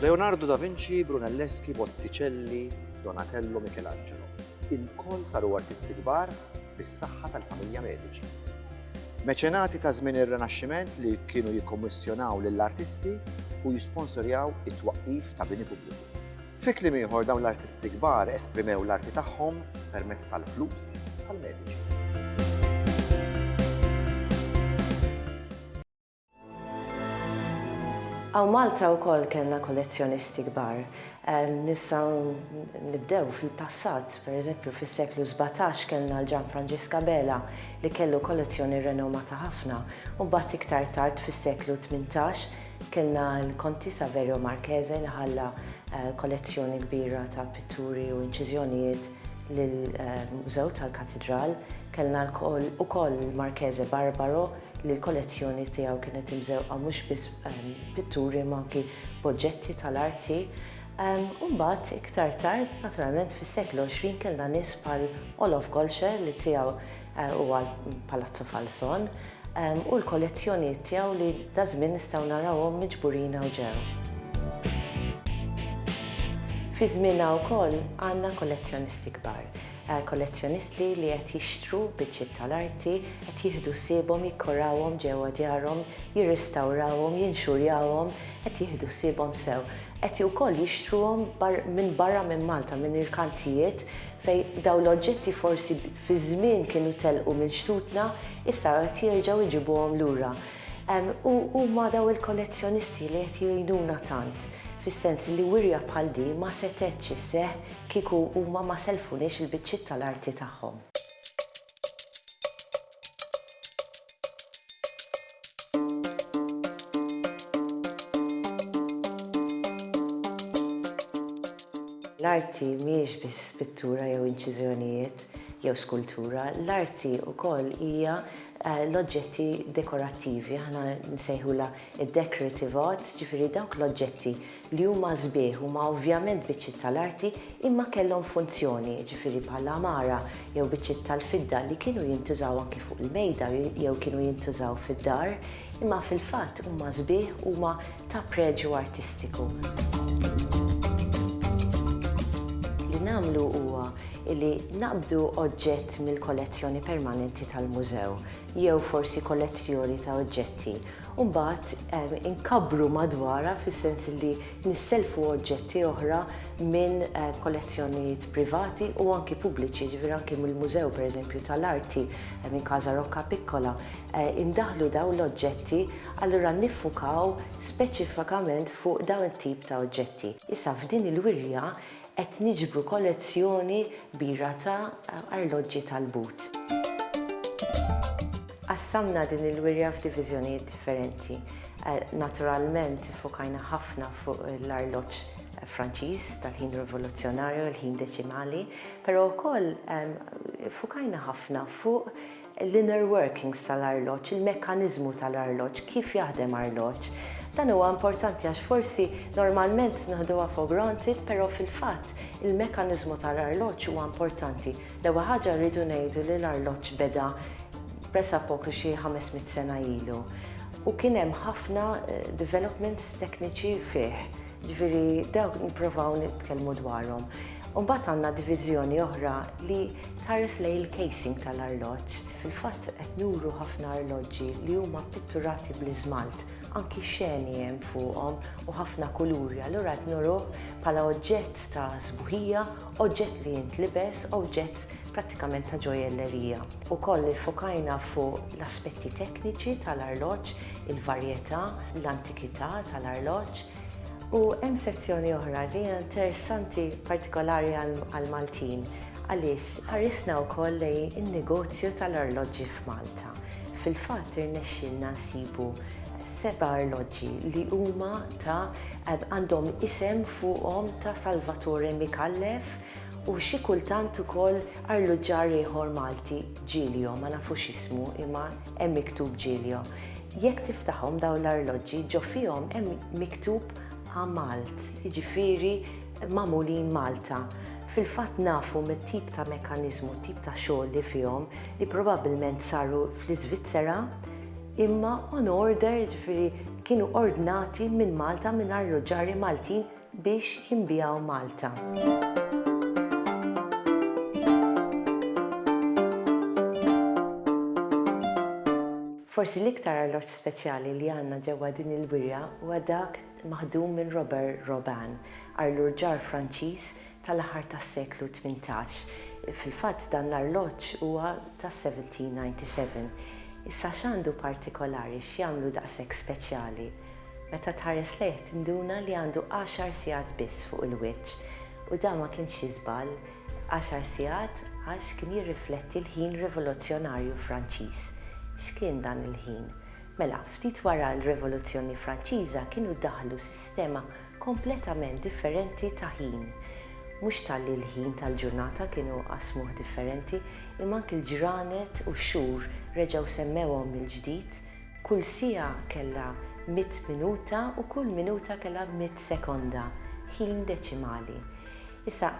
Leonardo da Vinci, Brunelleschi, Botticelli, Donatello, Michelangelo. Il-koll saru artisti kbar bis-saħħa tal-familja Medici. Meċenati ta' żmien ir-Renaxximent li kienu jikkommissjonaw lill-artisti u jisponsorjaw it-twaqqif ta' bini pubbliku. Fi kliem ieħor dawn l-artisti kbar esprimew l-arti tagħhom permezz tal-flus tal-mediċi. Għaw Malta u koll kena kollezzjonisti kbar. Nistaw nibdew fil-passat, per eżempju fil-seklu 17 kena l-ġan Francesca Bela li kellu kollezzjoni renomata ħafna u bat iktar tard fil-seklu 18 Kellna l-Konti Saverio Marchese li ħalla kollezzjoni kbira ta' pitturi u inċiżjonijiet lill-Mużew tal-Katidral. Kellna ukoll l-Marchese Barbaro li l-kollezzjoni tiegħu kienet imżewqa mhux biss b'pitturi imma anki b'oġġetti tal-arti. U mbagħad iktar tard, naturalment fis-seklu 20, kellna nies bħal Olof Golscher li tiegħu u għal Palazzo Falzon u l-kollezzjonijiet tiegħu li daż-żmien nistgħu narawhom miġburin hawn ġew. Fi żmienna wkoll għandna kollezzjonisti kbar, kollezzjonistli li qed jixtru biċċiet tal-arti, qed jieħdu ħsiebhom, jikkorawhom ġewwa djarhom, jirrestawrawhom, jinxurjawhom, qed jieħdu ħsiebhom sew. Qed wkoll jixtruhom minn barra minn Malta, minn irkantijiet fejn dawn l-oġġetti forsi fi żmien kienu telqu minn xtutna, issa qed jerġgħu jġibuhom lura. U huma dawn il-kollezzjonisti li qed jgħinuna tant, fis-sens li wirja bħal din ma setgħetx isseħħ kieku huma ma sellfuniex il-biċċiet tal-arti tagħhom. L-arti mhijiex biss pittura jew inċiżjonijiet jew skultura. L-arti wkoll hija l-oġġetti dekorattivi, aħna nsejħulha d-decorative art, ġifieri dawk l-oġġetti li huma sbieħ, huma ovvjament biċċiet tal-arti imma kellhom funzjoni, jiġifieri bħal għamara jew biċċiet tal-fidda li kienu jintużaw anki fuq il-mejda jew kienu jintużaw fid-dar, imma fil-fatt huma sbieħ, huma ta' preġju artistiku. Li nagħmlu huwa li naqbdu oġġett mill-kollezzjoni permanenti tal-mużew jew forsi kollezzjoni ta' oġġetti u mbagħad inkabbru madwarha fis-sens li nissellfu oġġetti oħra minn kollezzjonijiet privati u anki pubbliċi, jiġifieri anki mill-Mużew pereżempju tal-Arti minn Casa Roccapiccola, indaħħlu dawn l-oġġetti Allura niffukaw speċifikament fuq dawn it-tip ta' oġġetti. Issa f'din il-wirja qed niġbru kollezzjoni kbira ta' arloġġi tal-but. Qassamna din il-wirja f'diviżjonijiet differenti. Naturalment iffokajna ħafna fuq l-arloġġ Franċiż tal-ħin rivoluzzjonarju, il-ħin deċimali, però wkoll iffokajna ħafna fuq l-inner workings tal-arloġġ, il-mekkaniżmu tal-arloġġ, kif jaħdem arloġġ. Dan huwa importanti għax forsi normalment naħduha for granted però fil-fatt il-mekkaniżmu tal-arloġġ huwa importanti. L-ewwel ħaġa rridu ngħidu li l-arloġġ beda pressa poco xi ħames mitt sena ilu u kien hemm ħafna developments tekniċi fih. Jiġifieri dawk nipprovaw nitkellmu dwarhom. U mbagħad għandna diviżjoni oħra li tħares lejn il-casing tal-arloġġ. Fil-fatt qed nuru ħafna arloġġi li huma ppitturati bl-iżmalt, anki xeni hemm fuqhom u ħafna kuluri, allura qed nuruh bħala oġġett ta' sbuħija, oġġett li jintlibes, oġġett prattikament ta' ġojellerija. Ukoll iffokajna fuq l-aspetti tekniċi tal-arloġġ, il-varjetà, l-antikità tal-arloġġ. U hemm sezzjoni oħra li hija interessanti partikolari għall-Maltin għaliex ħarisna wkoll lejn in-negozju tal-arloġġi f'Malta. Fil-fatt irnexxielna nsibu seba' arloġġi li huma ta' għandhom isem fuqhom ta' Salvatore Micallef u xi kultant ukoll arluġġar ieħor Malti, Giglio, ma nafux ismu imma Hemm miktub Giglio. Jekk tiftaħhom dawn l-arloġġi ġo fihom hemm miktub A Malt, jiġifieri magħmulin Malta. Fil-fatt nafu mit-tip ta' mekkaniżmu, t-tip ta' xogħol li fihom li probabbilment saru fl-Iżvizzera imma on order, jiġifieri kienu ordnati minn Malta minn arloġġarji Maltin. biex jinbiegħu Malta. Forsi l-iktar arloġġ speċjali li għandna ġewwa din il-wirja huwa dak maħdum minn Robert Robin, arlurġar Franċiż tal-aħħar tas-seklu 18. Fil-fatt dan l-arloġġ huwa tas-1797. Issa x'għandu partikolari x'jagħmlu daqshekk speċjali? Meta tħares lejh tinduna li għandu għaxar sigħat biss fuq il-wiċċ u dan ma kienx xi żball, għaxar sigħat għax kien jirrifletti l-ħin rivoluzzjonarju Franċiż. X'kien dan il-ħin? Mela, ftit wara l-Rivoluzzjoni Franċiża kienu daħlu sistema kompletament differenti ta' ħin. Mhux talli l-ħin tal-ġurnata kienu qasmuh differenti, imma anki l-ġranet u x-xhur reġgħu semmewhom mill-ġdid, Kull siegħa kellha mitt minuta u kull minuta kellha mitt sekonda, ħin deċimali. Issa,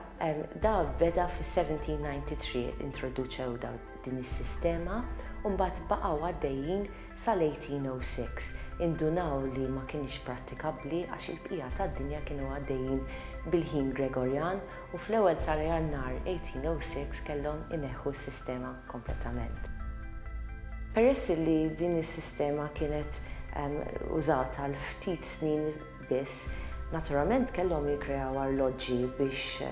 da beda fis-1793 introduċew din is-sistema u mbagħad baqgħu għaddejjin sal-1806. Indunaw li ma kinitx prattikabbli għax il-bqija tad-dinja kienu għaddejjin bil-ħin Gregorjan u fl-ewwel ta' Jannar 1806 kellhom ineħħu s-sistema kompletament. Peress li din is-sistema kienet użata għal ftit snin biss, naturalment kellhom jikkreaw arloġġi biex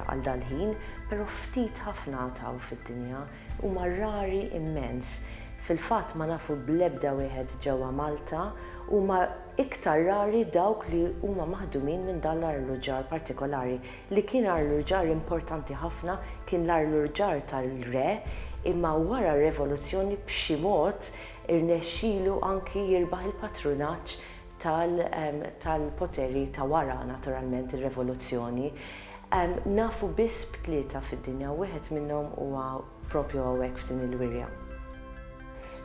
għal dal-ħin, però ftit ħafna taw fid-dinja, huma rari immens. Fil-fatt ma nafu bl-ebda wieħed ġewwa Malta, huma. Iktar rari dawk li huma maħdumin minn dan l-arluġġar partikolari, li kien arluġġar importanti ħafna, kien l-arluġġar tal-re, imma wara r-Revoluzzjoni b'xi mod irnexxilu anki jirbaħ il-patrunaġġ tal-poteri ta' wara naturalment ir-Revoluzzjoni. Nafu biss b'tlieta fid-dinja u wieħed minnhom huwa Propju hawnhekk f'din il-wirja.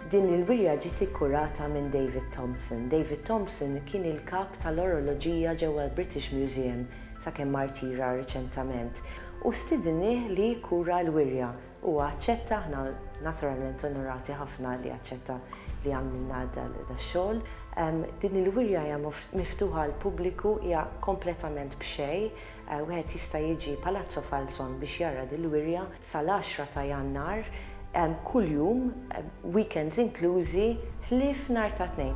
Din il-wirja ġiet ikkurata minn David Thompson. David Thompson kien il-kap tal-oroloġija ġewwa l-British Museum sakemm ma rtira riċentament u stidinnieh li jikkura l-wirja. Huwa aċċetta, aħna naturalment onorati ħafna li aċċetta li għamlilna dax-xogħol. Din il-wirja hija miftuħa għall-pubbliku, hija kompletament b'xejn. Wieħed jista' jiġi Palazzo Falzon biex jara dil-wirja. sal-10 ta' Jannar, kuljum, weekends inklużi, ħlief nhar ta' Tnejn.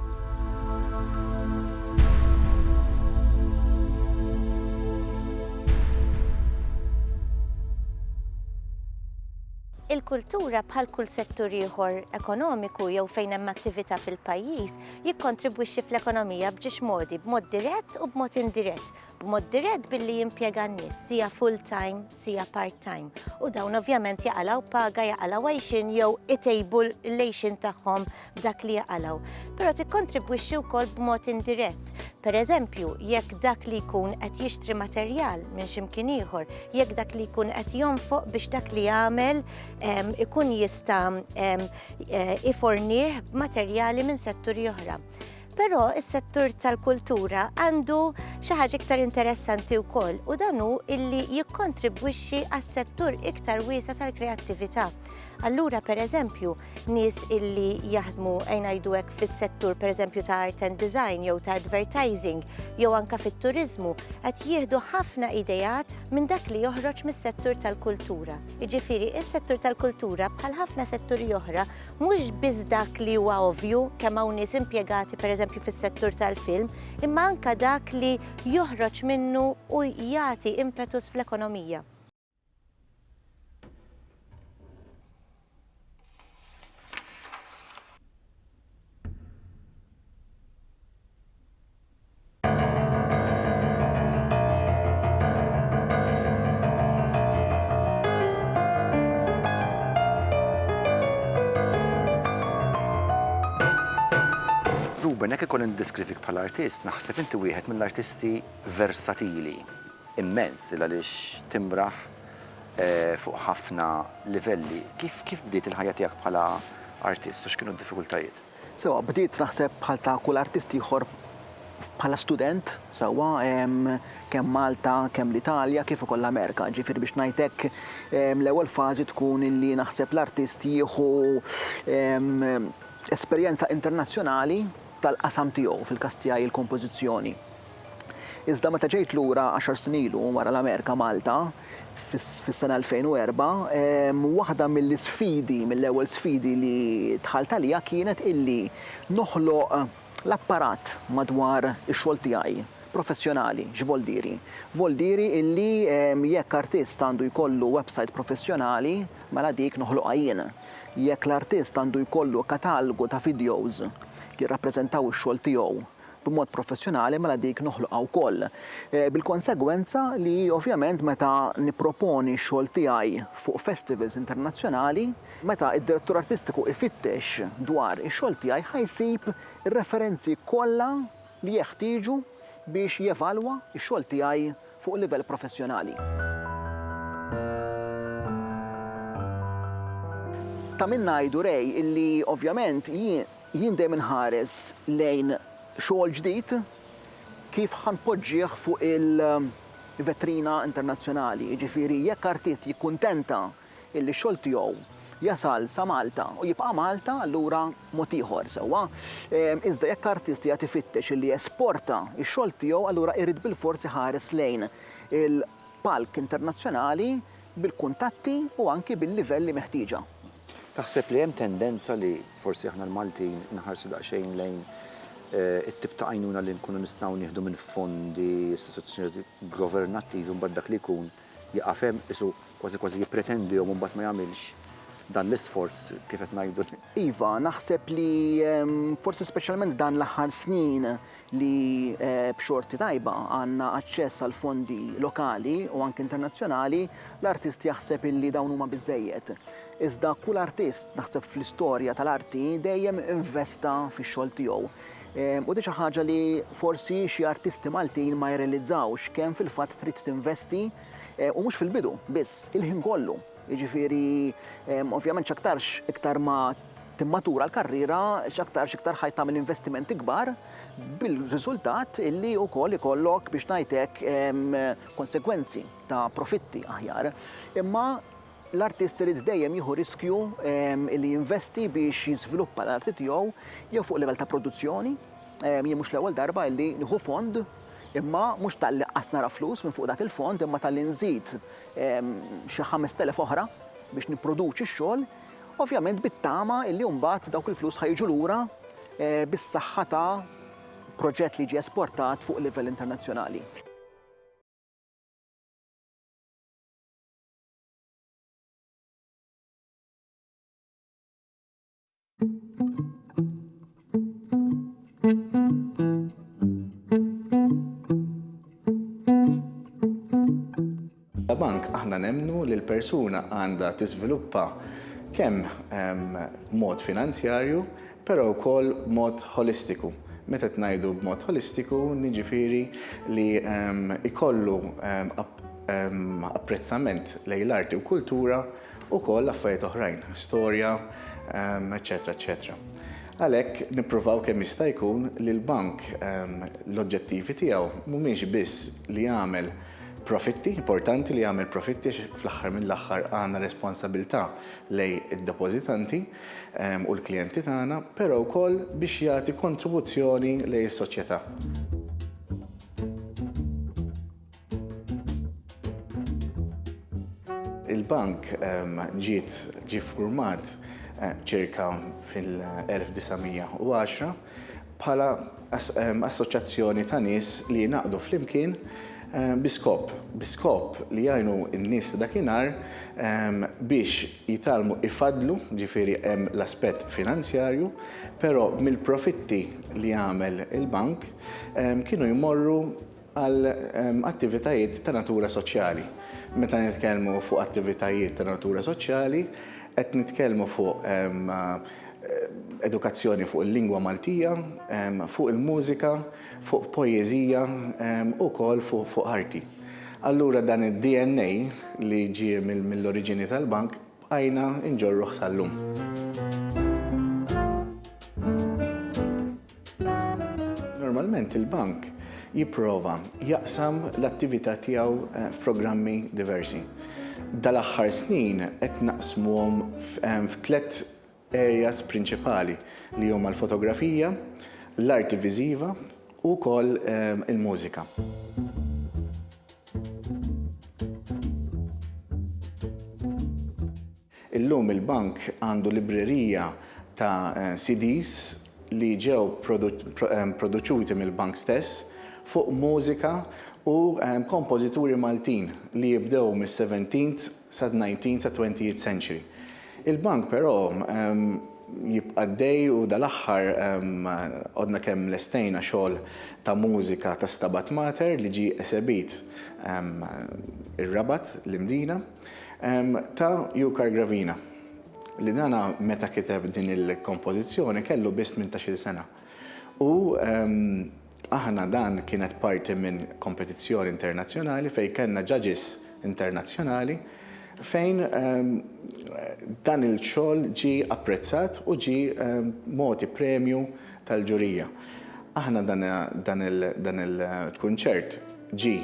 Il-kultura, bħal kull settur ieħor ekonomiku jew fejn hemm attività fil-pajjiż, jikkontribwixxi fl-ekonomija b'ġiex modi, b'mod dirett u b'mod indirett, b'mod dirett billi jimpjega n-nies, sija full-time, sija part-time. U dawn ovvjament jaqalaw paga, jaqalaw għajxin jew itejbu l-lejxin tagħhom b'dak li jaqalaw. Però tikkontribwixxi wkoll b'mod indirett. Per eżempju, jekk dak li jkun qed jixtri materjal minn ximkien ieħor, jekk dak li jkun qed jonfoq biex dak li jagħmel ikun jista' eh, ifornih b'materjali minn setturi oħra. Però is-settur tal-kultura għandu xi ħaġa iktar interessanti wkoll u dan hu illi jikkontribwixxi għas-settur iktar wiesa tal-kreattività. Allura pereżempju nies illi jaħdmu ngħidu hekk fis-settur pereżempju ta' art and design jew ta' advertising jew anka fit-turiżmu qed jieħdu ħafna idejat minn dak li joħroġ mis-settur tal-kultura. Jiġifieri is-settur tal-kultura bħal ħafna setturi oħra Mhux biss dak li huwa ovvju kemm hawn nies impjegati pereżempju fis-settur tal-film, imma anke dak li joħroġ minnu u jagħti impetus fl-ekonomija. Ruben, jekk ikun indeskrivik bħala artist, naħseb inti wieħed mill-artisti versatili immens il għaliex timraħ eh, fuq ħafna livelli. Kif kif bdiet il-ħajja tiegħek bħala artist u x'kienu d-diffikultajiet? Sewwa, bdiet naħseb bħal ta' kull artist ieħor bħala student, sewwa, kemm Malta, kemm l-Italja, kif ukoll l-Amerika. Ġifieri biex ngħid hekk, l-ewwel fażi tkun li naħseb l-artist jieħu esperjenza internazzjonali tal-qasam tiegħu, fil-każ tiegħi l-kompożizzjoni. Iżda meta ġejt lura għaxar snin ilu wara l-Amerika Malta fis-sena 2004, waħda mill-isfidi, mill-ewwel sfidi li dħalt għaliha kienet illi noħloq l-apparat madwar ix-xogħol tiegħi professjonali. X'voldieri? Voldieri illi jekk artist għandu jkollu websajt professjonali, mela dik noħloqha jien. Jekk l-artist għandu jkollu katalgu ta' videos li jirrappreżentaw ix-xogħol tiegħu, b'mod professjonali mela dik noħloqha wkoll. Bil-konsegwenza li ovvjament meta nipproponi x-xogħol tiegħi fuq festivals internazzjonali, meta d-direttur artistiku jfittex dwar ix-xogħol tiegħi ħa jsib ir-referenzi kollha li jeħtieġu biex jevalwa x-xogħol tiegħi fuq livell professjonali. Ta' min ngħidu Ray illi ovvjament jien, Jien dejjem inħares lejn xogħol ġdid kif ħa npoġġih fuq il-vetrina internazzjonali, jiġifieri jekk artist jikkuntenta illi x-xogħol tiegħu jasal sa Malta u jibqa' Malta allura mod ieħor, sewwa? Iżda jekk artist qiegħed ifittex illi jesporta x-xogħol tiegħu allura jrid bilfors iħares lejn il- palk internazzjonali bil-kuntatti u anki bil-livelli meħtieġa. Taħseb li hemm tendenza li forsi aħna l-Maltin inħarsu daqsxejn lejn it-tip ta' għajnuna li nkunu nistgħu nieħdu minn fondi, istituzzjonijiet governattivi u mbagħad dak li jkun jieqaf hemm, qisu kważi kważi jippretendihom u mbagħad ma jagħmilx dan l-isforz kif qed ngħidu? Iva, naħseb li forsi speċjalment dan l-aħħar snin li b'xorti tajba għandna aċċess għal fondi lokali u anke internazzjonali, l-artist jaħseb illi dawn huma biżżejjed. Iżda kull artist naħseb fl-istorja tal-arti dejjem investa fix-xogħol tiegħu. U di xi ħaġa li forsi xi artisti Maltin ma jirrealizzawx kemm fil-fatt trid tinvesti eh, u mhux fil-bidu biss, il-ħin kollu. Jiġifieri, ovvjament x'aktarx iktar ma timmatura l-karriera, x'aktarx iktar ħajt tagħmel investimenti kbar, bil-riżultat illi wkoll ikollok biex ngħid hekk konsegwenzi ta' profitti aħjar. Imma l-artist irid dejjem jieħu riskju li jinvesti biex jiżviluppa l-arti tiegħu jew fuq livell ta' produzzjoni, jien mhux l-ewwel darba illi nieħu fond imma mhux talli qas nara flus minn fuq dak il-fond imma talli nżid xi ħamest elef oħra biex nipproduċi x-xogħol, ovvjament bit-tama li mbagħad dawk il-flus ħa jiġu lura bis-saħħa ta' proġett li jiġi esportat fuq livell internazzjonali. La bank aħna nemnu li l-persuna għandha tiżviluppa kemm ehm, mod finanzjarju, però wkoll mod holistiku meta tnajdu b'mod holistiku, niġifieri li ehm, ikollu ehm, ehm, apprezzament lejn l-arti u kultura ukoll affarijiet oħrajn, storja, eċċetera eċċetera. Għalhekk nippruvaw kemm jista' jkun li l-bank l-oġġettivi tiegħu mhumiex biss li jagħmel profitti, importanti li jagħmel profitti fl-aħħar mill-aħħar għandna responsabilità lej id-depożitanti u l-klijenti tagħna, però wkoll biex jagħti kontribuzzjoni lej is-soċjetà. Il-bank ehm, ġiet ġi format eh, ċirka fil-1910 bħala ehm, assoċjazzjoni ta' nies li jinaqdu flimkien ehm, biskop, biskop li jgħinu n-nies ta' dakinhar biex jitalmu ifadlu, ġifiri hemm l-aspett finanzjarju, però mill-profitti li għamel il-bank kienu jmorru għal attivitajiet ta' natura soċjali. Meta nitkellmu fuq attivitajiet ta' natura soċjali qed nitkellmu fuq edukazzjoni fuq il-lingwa Maltija, fuq il-mużika, fuq poeżija u wkoll fuq arti. Allura dan id-DNA li ġie mill-oriġini tal-Bank bqajna nġorruh sal-lum. Normalment il-bank jipprova jaqsam l-attività tiegħu eh, f'programmi diversi. Dal-aħħar snin qed naqsmuhom eh, f'tlet areas prinċipali li huma l-fotografija, l-arti viżiva u wkoll eh, il-mużika. Illum il-Bank għandu librerija ta' CDs li ġew produċuti mill-Bank stess fuq mużika u kompożituri Maltin li jibdew mis-seventeenth sad-nineteenth sat-twentieth century. Il-Bank però jibqa' għaddej u dal-aħħar għodna kemm lestejna xogħol ta' mużika ta' Stabat Mater li ġie esebit ir-Rabat, l-Imdina. Ta' Jukar Gravina, li dan meta kiteb din il-kompożizzjoni kellu biss tmintax-il sena. U aħna dan kienet parti minn kompetizzjoni internazzjonali fejn kellna judges internazzjonali fejn dan il-xogħol ġie apprezzat u ġie mogħti premju tal-ġurija. Aħna dan il-kunċert ġie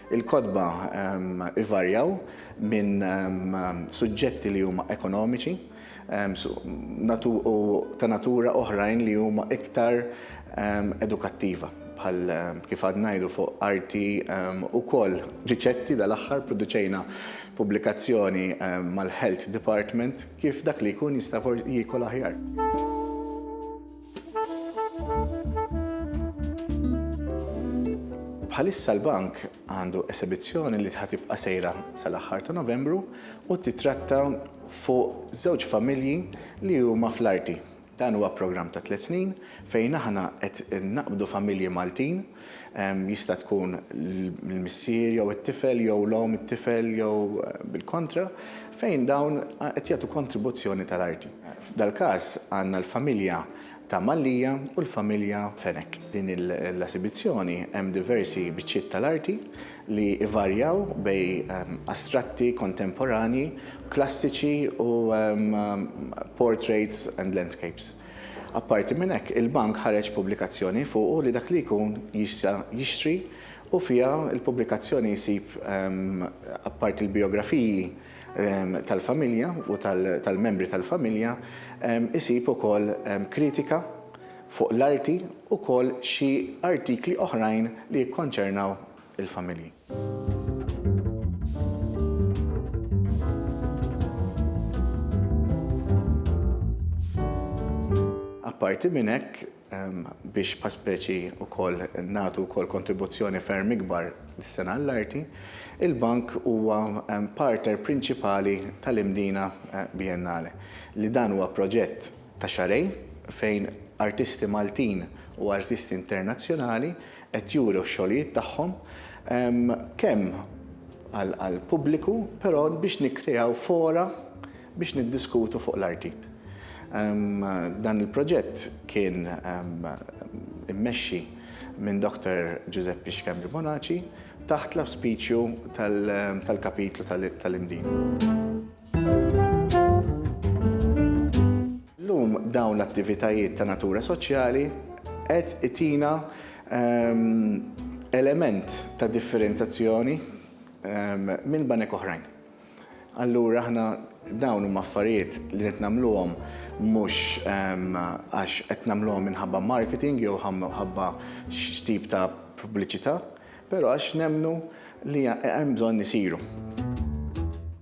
Il-kotba ivarjaw minn suġġetti li huma ekonomiċi u ta' natura oħrajn li huma iktar edukattiva bħal kif għad ngħidu fuq arti ukoll riċetti dal-aħħar produċejna pubblikazzjoni mal-Health Department kif dak li jkun jista' jiekol aħjar. Bħalissa l-Bank għandu esebizzjoni li ħa tibqa' sejra sal-aħħar ta' Novembru u titratta fuq żewġ familji li huma fl-arti. Dan huwa programm ta' tliet snin fejn aħna qed naqbdu familji Maltin Jista' tkun l-missier jew it-tifel jew l-omm it-tifel jew bil-kontra, fejn dawn qed jagħtu kontribuzzjoni tal-arti. F'dal-każ għandna l-familja ta' Mallia u l-familja Fenech. Din l-esibizzjoni hemm diversi biċċiet tal-arti li jvarjaw bejn astratti, kontemporanji, klassiċi u portraits and landscapes. Apparti minn hekk, il-Bank ħareġ pubblikazzjoni fuqu li dak li jkun jista' jixtri u fiha l-pubblikazzjoni jsib apparti l-bijografiji tal-familja u tal-membri tal-familja isib ukoll kritika fuq l-arti ukoll xi artikli oħrajn li jikkonċernaw il-familji. Apparti minn hekk, biex bħal speċi wkoll nagħtu wkoll kontribuzzjoni ferm ikbar dis-sena għall-arti, il-Bank huwa partner prinċipali tal-Imdina Biennale, li dan huwa proġett ta' xahrejn fejn artisti Maltin u artisti internazzjonali qed juru x-xogħlijiet tagħhom kemm għall-pubbliku però biex nikkreaw fora biex niddiskutu fuq l-arti. Dan il-proġett kien immexxi minn Dr. Ġużeppi Xkembri Bonaċi taħt l-awspiċju tal-kapitlu tal-Imdien. Llum dawn l-attivitajiet ta' natura soċjali qed itina ehm, element ta' differenzazzjoni ehm, minn banek oħrajn. Allura aħna dawn huma affarijiet li qed nagħmluhom mhux ehm, għax qed nagħmluhom minħabba marketing jew ħabba x'tip ta' pubbliċità, però għax nemnu li hemm bżonn isiru.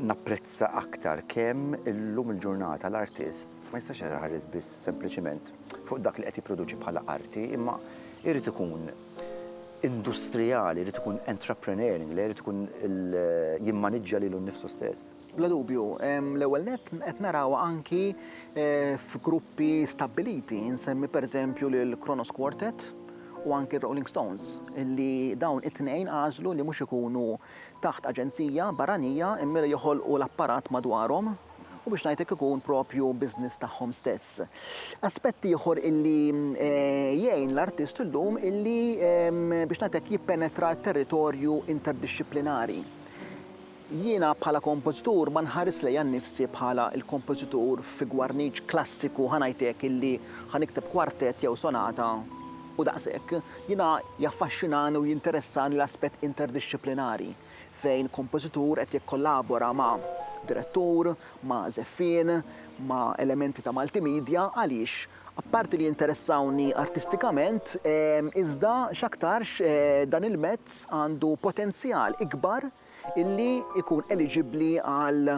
Napprezza aktar kemm illum il-ġurnata l-artist ma jistax iħares biss sempliċiment fuq dak li qed jipproduċi bħala arti imma jrid ikun industrijali, jrid ikun entrepreneurial, jrid ikun jimmaniġġja lilu nnifsu stess. Bla dubju, l-ewwel nett qed narawha anki f'gruppi stabbiliti, insemmi pereżempju lil Kronos Quartet u anki r-Rolling Stones, li dawn it-tnejn għażlu li mhux ikunu taħt aġenzija barranija mmiera joħolqu l-apparat madwarhom u biex ngħidlek ikun proprju business tagħhom stess. Aspett ieħor illi jgħin l-artist illum illi biex ngħidlek jippenetra t-territorju interdixxiplinari. Jiena bħala kompożitur ma nħaris lejja nnifsi bħala l-kompożitur fi gwarniċ klassiku ħa ngħid hekk illi ħa nikteb kwartett jew sonata U daqshekk, jiena jaffaxxinani u jinteressani l-aspett interdixxiplinari, fejn kompożitur qed jikkollabora ma' direttur, ma' żeffien, ma' elementi ta' multimedia, għaliex, apparti li jinteressawni artistikament, iżda x'aktarx dan il-mezz għandu potenzjal ikbar illi jkun eliġibbli għal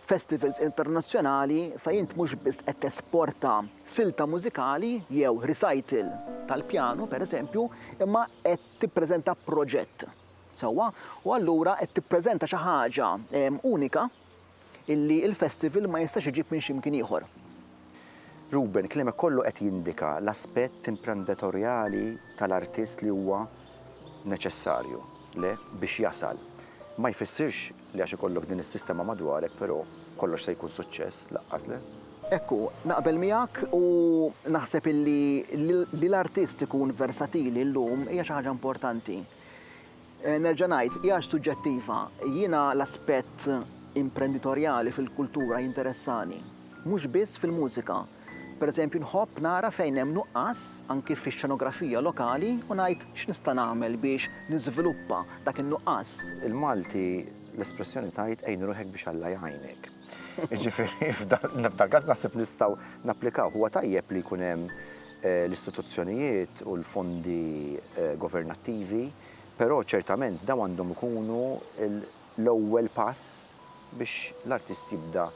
festivals internazzjonali fejn int mhux biss qed tesporta silta mużikali jew recital tal-pjanu, pereżempju, imma qed tippreżenta proġett. Sewwa? U allura qed tippreżenta xi ħaġa unika illi l-festival ma jistax iġib minn xi mkien ieħor. Ruben, kliemek kollu qed jindika l-aspett imprendetorjali tal-artist li huwa neċessarju, le, biex jasal. Ma jfissirx li għax ikollok din is-sistema madwarek, però, kollox se jkun suċċess, laqqas le. Hekk hu, naqbel miegħek u naħseb illi li l-artist ikun versatili llum hija xi ħaġa importanti. Nerġa' ngħid, hija suġġettiva. Jiena l-aspett imprenditorjali fil-kultura jinteressani, mhux biss fil-mużika. Pereżempju, nħobb nara fejn hemm nuqqas, anki fix-xenografija lokali, u ngħid x'nista' nagħmel biex niżviluppa dak in-nuqqas. Il-Malti l-espressjoni tgħid għin ruħek biex Alla jgħinek. Jiġifieri f'dal-każ naħseb nistgħu napplikawh. Huwa tajjeb li jkun hemm l-istituzzjonijiet u l-fondi governattivi, però ċertament dawn għandhom ikunu l-ewwel pass biex l-artist jibda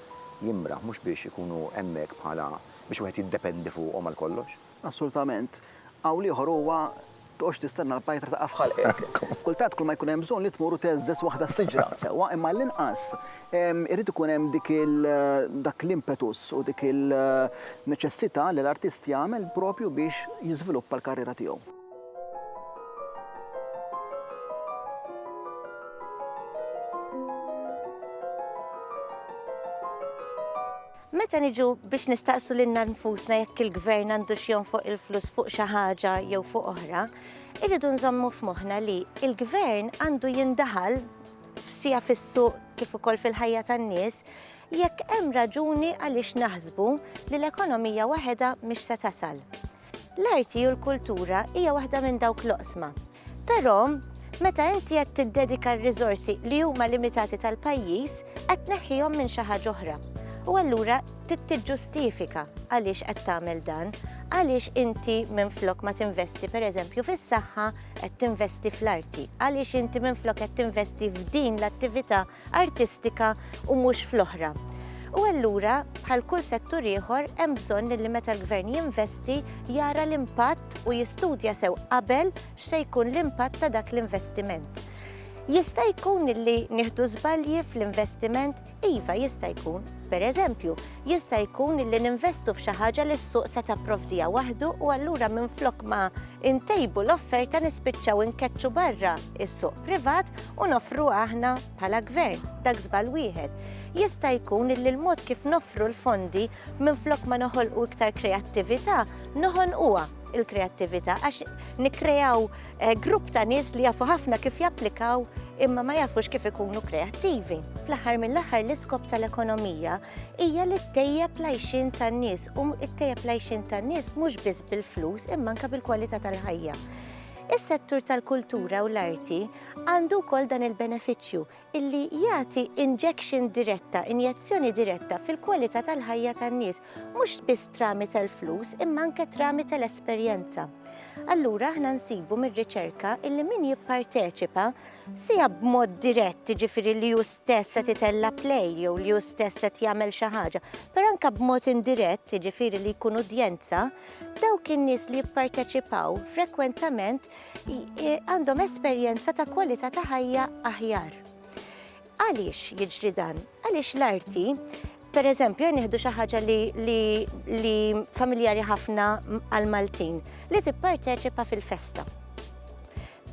jimraħ, mhux biex ikunu hemmhekk bħala biex wieħed jiddependi fuqhom għal kollox. Assolutament. Qawl ieħor huwa, Tqogħodx tistenna l-pajtra taqa' f'ħalqek. Kultant kull ma jkun hemm bżonn li tmur u tgħeżżeż waħda s-siġra, sewwa, imma għall-inqas irid ikun hemm dik il, dak l-impetus u dik il-neċessità li l-artist jagħmel proprju biex jiżviluppa l-karriera tiegħu. Meta niġu biex nistaqsu lilna nfusna jekk il-gvern għandux jonfoq il-flus fuq xi ħaġa jew fuq oħra, irridu nżommu f'moħħna li l-gvern għandu jindaħal sija fis-suq kif ukoll fil-ħajja tan-nies jekk hemm raġuni għaliex naħsbu li l-ekonomija waħedha mhix se tasal. L-arti u l-kultura hija waħda minn dawk l-oqsma. Però, meta inti qed tiddedika r-riżorsi li huma limitati tal-pajjiż, qed tneħħihom minn xi ħaġa oħra. U allura tiġġustifika għaliex qed tagħmel dan, għaliex inti minn flok ma tinvesti per eżempju fis-saħħa qed tinvesti fl-arti, għaliex inti minn flok qed tinvesti f'din l-attività artistika u mhux fl-oħra. U allura, bħal kull settur ieħor, hemm bżonn li meta l-Gvern jinvesti jara l-impatt u jistudja sew qabel x'se jkun l-impatt ta' dak l-investiment. Jista' jkun li nieħdu żbalji fl-investiment? Iva, jista' jkun. Per eżempju, jista' jkun li ninvestu f'xi ħaġa li s-suq se tapprovdija waħdu u allura minn flok ma intejbu l-offerta nispiċċaw inkeċċu barra is-suq privat u nofru aħna bħala gvern dak żbal wieħed. Jista' jkun li l-mod kif nofru l-fondi minflok ma noħolqu iktar kreattività noħonquha il-kreattività għax nikreaw eh, grupp ta' nies li jafu ħafna kif japplikaw imma ma jafux kif ikunu kreattivi. Fl-aħħar mill-aħħar l-iskop tal-ekonomija hija li ttejjeb l-għajxien tan-nies u ttejjeb l-għajxien tan-nies mhux biss bil-flus imma anke bil-kwalità tal-ħajja. Is-settur tal-kultura u l-arti għandu wkoll dan il-benefiċċju illi jagħti injection diretta, injezzjoni diretta fil-kwalità tal-ħajja tan-nies, mhux biss trami tal-flus imma anke trami tal-esperjenza. Allura aħna nsibu mir-riċerka illi min jipparteċipa Sija b'mod dirett, jiġifieri li hu stess qed itella' play jew li hu stess qed jagħmel xi ħaġa, però anke b'mod indirett, jiġifieri li jkun udjenza, dawk in-nies li jipparteċipaw frekwentament għandhom esperjenza ta' kwalità ta' ħajja aħjar. Għaliex jiġri dan? Għaliex l-arti Per eżempju, jien nieħdu xi ħaġa li familjari ħafna għal Maltin li tipparteċipa fil-festa.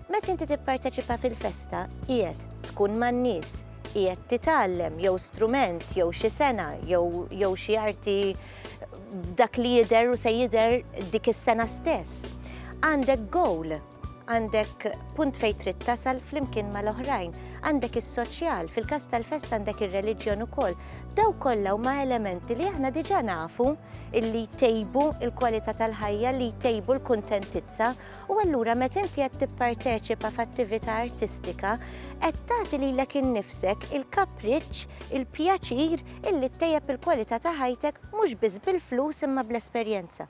Meta inti tipparteċipa fil-festa, qiegħed tkun man-nies, qiegħed titgħallem jew strument jew xi sena jew xi arti dak li jidher u se jidher dik is-sena stess. Għandek goal, għandek punt fejn trid tasal flimkien mal-oħrajn, għandek is-soċjal, fil-każ tal-fest għandek ir-reliġjon ukoll. Daw kollha huma elementi li aħna diġà nafu illi tejbu il-kwalità tal-ħajja li tejbu l-kuntentizza U allura meta inti qed tipparteċipa f'attività artistika, qed tagħti lilek innifsek il-kapriċċ, il-pjaċir illi ttejjeb il-kwalità ta' ħajtek mhux biss bil-flus imma bl-esperjenza.